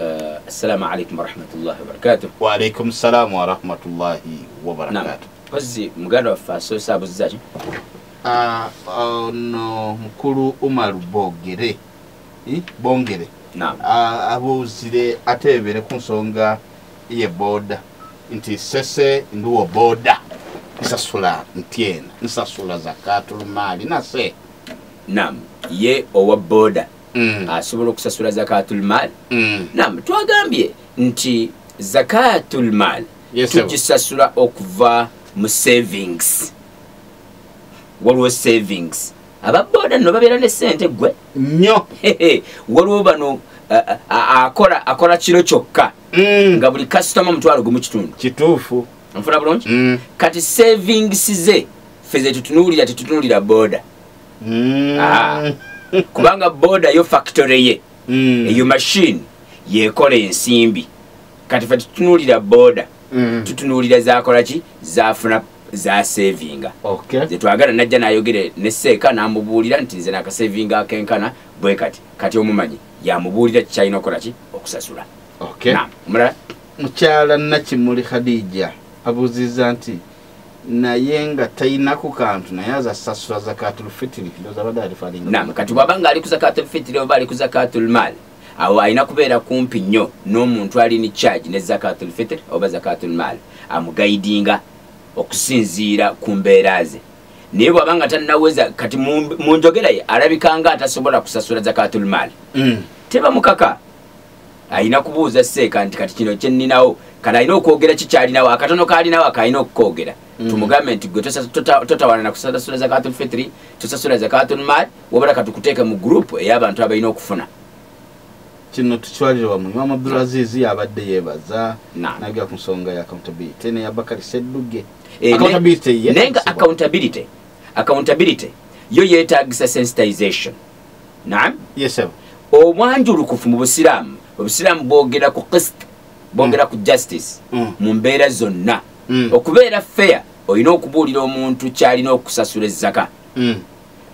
Uh, assalamu alaikum warahmatullahi wabarakatuh waalaikum ssalamu warahmatullahi wabarakatuh kozzi muganda waffe asoose abuzzaki uh, ono mukulu umaru bogere eh, bongere uh, abuuzire ate ebere ku nsonga ye booda nti sese ndiwo booda nsasula ntyena nsasula zakatulumaali nase nam ye owa booda mm. asobola okusasula zakatul mal mm. nam twagambye nti zakatul mal yes, tugisasula okuva mu savings waliwo savings ababoda no babeera ne sente gwe nyo waliwo bano akola akola kiro kyokka mm. nga buli kasitoma mutwalo gumu kitundu kituufu nfuna bulungi mm. kati savings ze fe zetutunuulira tetutunuulira boda mm. ah. kubanga boda yo factory ye mm. eyo machine yekola ensimbi kati fe tutunulira boda mm. tutunulira zakola ki zafuna za savinga okay. zetwagala najja nayogere ne seeka namubuulira nti nze nakasavinga akenkana bwe kati kati omumanyi yamubuulira kikyalina okukola ki okusasula okay. mukyala nakimuli khadija abuuziza nti naye nga talina ku kantu naye aza sasula zakatulfitiri ndoza bada alifalinga nam kati bwaba nga ali ku zakatulfitiri oba ali ku zakatulmal awo alina kubeera kumpi nnyo n'omuntu ali ni charge ne zakatulfitiri oba zakatulmal amugaidinga okusinziira ku mbeera ze naye bwaba nga tanaweza kati mu njogera ye alabikanga atasobola kusasula zakatulmal mm. tebamukaka alina kubuuza seeka nti kati kino kyenninawo kati alina okwogera kikyalinawo akatono kalinawo akalina okukoogera mm. tumugambe nti gwe totawana na kusasula zakatul fitri tosasula zakatul mal wabala katukuteeke mu gurupu ey'abantu abalina okufuna kino tukitwalire wamu imaam abdulazizi yabadde yebaza nagera ku nsonga ya accountability neya bakari sedduge eh, naye nga accountability accountability yo yetagisa sensitization naam yes sir obwanjulukufu mu busiraamu obusiraamu bwogera ku qist bwogera ku justice mm. mu mbeera zonna mm. okubeera fair olina okubuulira omuntu kyalina okusasula ezzaka mm.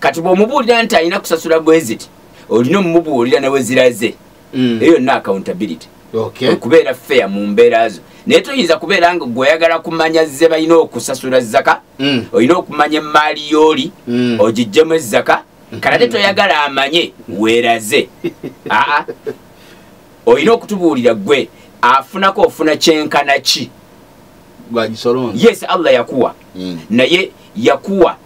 kati bwomubuulira nti alina kusasula bweziti olina omumubuulira neweziraze eyo yonna accountability okubeera fair mu mbeera zo naye toyinza kubeera nga gweoyagala kumanya ze balina okusasula zaka mm. olina okumanya emaali yooli mm. ogijjemu ezaka nkalate toyagala amanye weraze aa olina okutubuulira gwe afunako ofuna kyenkana ki yes allah yakuwa mm. naye yakuwa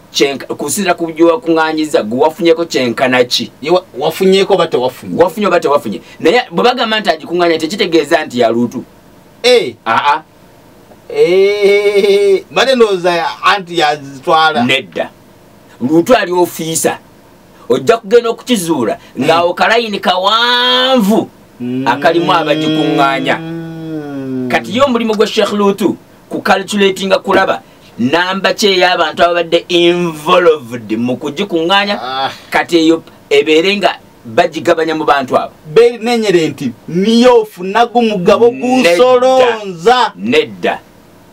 kusinzira ku byowakuŋanyiza gwe wafunyeko kyenkana ki wafunyeko oba tewafunye wafunye oba tewafunye naye bwe bagamba nti agikuŋanya tekitegeeza nti yalutu eh. aa eh, bade ndowooza anti yazitwala nedda luutu ali ofiisa ojja kugenda okukizuula ng'awo kalayini kawanvu mm. akalimu abagikuŋŋaanya mm. kati ye omulimu gwa sheikh luutu ku calculatinga kulaba namba ki ey'abantu ababadde involved mu kugikuŋŋaanya ah. kati eyo ebeere nga bagigabanya mu bantu abo nenyere nti niyo ofunagu mugabo gusolonza nedda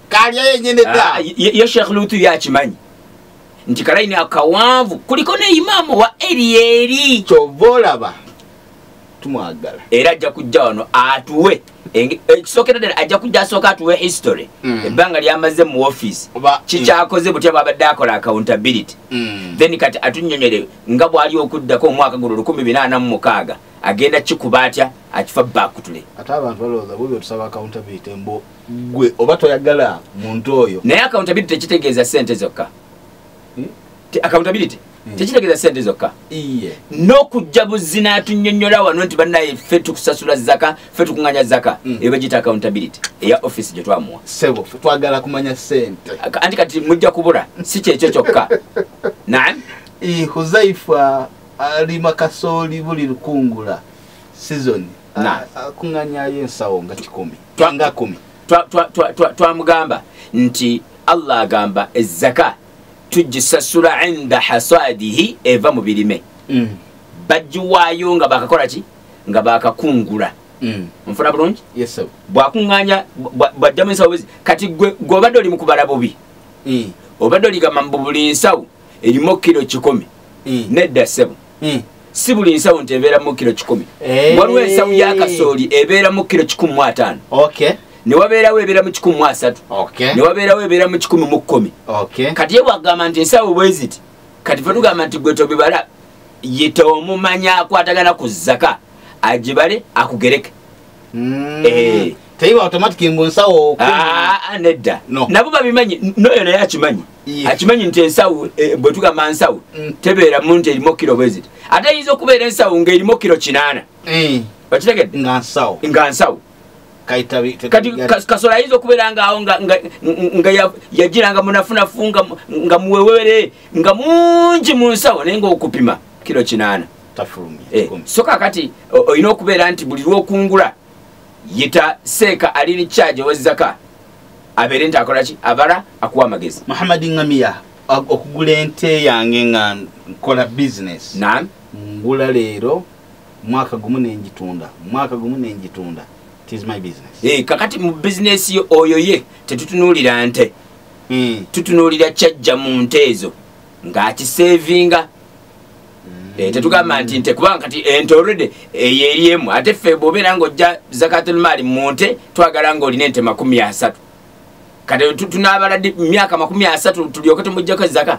kalya yenyene da ah, ye sheikh lutu yakimanyi nti kalayini akawanvu kuliko ne imaamu wa eryeri kyova olaba tumwagala era ajja kujja wano atuwe ekisookera ddala ajja kujja asooka atuwe history mm. ebbanga lyamaze mu office mm. kikyakoze butya bwabadde akola accountability mm. then kati atunyonyole nga bwali okuddako omwaka guno lukumi binaana mu mukaaga agenda kikuba atya akifa bakutule ate abantu balowooza bubi otusaba accountability mbu gwe oba toyagala muntu oyo naye accountability tekitegeeza sente zokka hmm? accountability hmm. tekitegeeza sente zokka n'okujja buzzi n'atunyonyola wano nti banaye ffe tukusasula zaka ffe tukunganya zaka hmm. eyo bagiyita accountability eya office gye twamuwa sebo twagala kumanya sente anti kati mujja kubula si kyekyo kyokka nam huzaifa alima kasooli buli lukungula sizoni kunganyayo ensawo nga kikumi nga kumi twamugamba nti allah agamba ezaka tugisasula inda hasadihi eva mu birime mm. bagiwaayo nga bakakola ki nga bakakungula mm. nfuna bulungi bwakuŋŋanya bwajjamu ensawo bwezi kati gwe obadde oli mukubala bubi mm. obadde oligamba mbu buli nsawo erimu kiro kikumi nedda ssebo hmm. si buli nsawo nti ebeera mu kiro kikumi eh. waliwo ensawo ya kasooli ebeera mu kiro kikumi mu ataano newabeerawo ebeera mu kikumi mu asatu newabeerawo ebeera mu kikumi mu kkumi kati ye bwagamba nti ensawo bweziti kati fe tugamba nti gwe tobibala yita omumanya akwatagana ku zaka agibale akugereke hmm. eh. teiba automatic mbu nsawo ah, ah, nedda nabo babimanyi noyo naye akimanyi akimanyi nti ensawo eh, bwetugamba nsawo mm. tebeera mu nti erimu kiro bweziti ate eyinza okubeera ensawo ngaerimu kiro kinaana eh. okitegedde nga nsawo kati kasola ayinza okubeera ngaawo nga yagiranga munafunafu nga muwewere nga mungi mu nsawo naye nga okupima kiro kinaana eh, so kakati olina okubeera nti buli lwokungula yita seeka ali ni kyagi owezaka abeere nti akola ki abala akuwa amagezi muhammad ngamiya okugula ente yange nga nkola business nam ngula leero mwaka gumu nenjitunda mwaka gumu nenjitunda eh, kakati mu bizinesi yo oyo ye tetutunuulira nte hmm. tutunuulira kyajja mu nte ezo ng'akiseevinga Eh, tetugamba nti nte kubanga kati ente olredy eyo eri emu ate ffe bwobeera nga ojja zakatulmaali mu nte twagala nga olina ente makumi asatu kati tunaabala myaka makumi asatu tulyoke tumujjako ezaka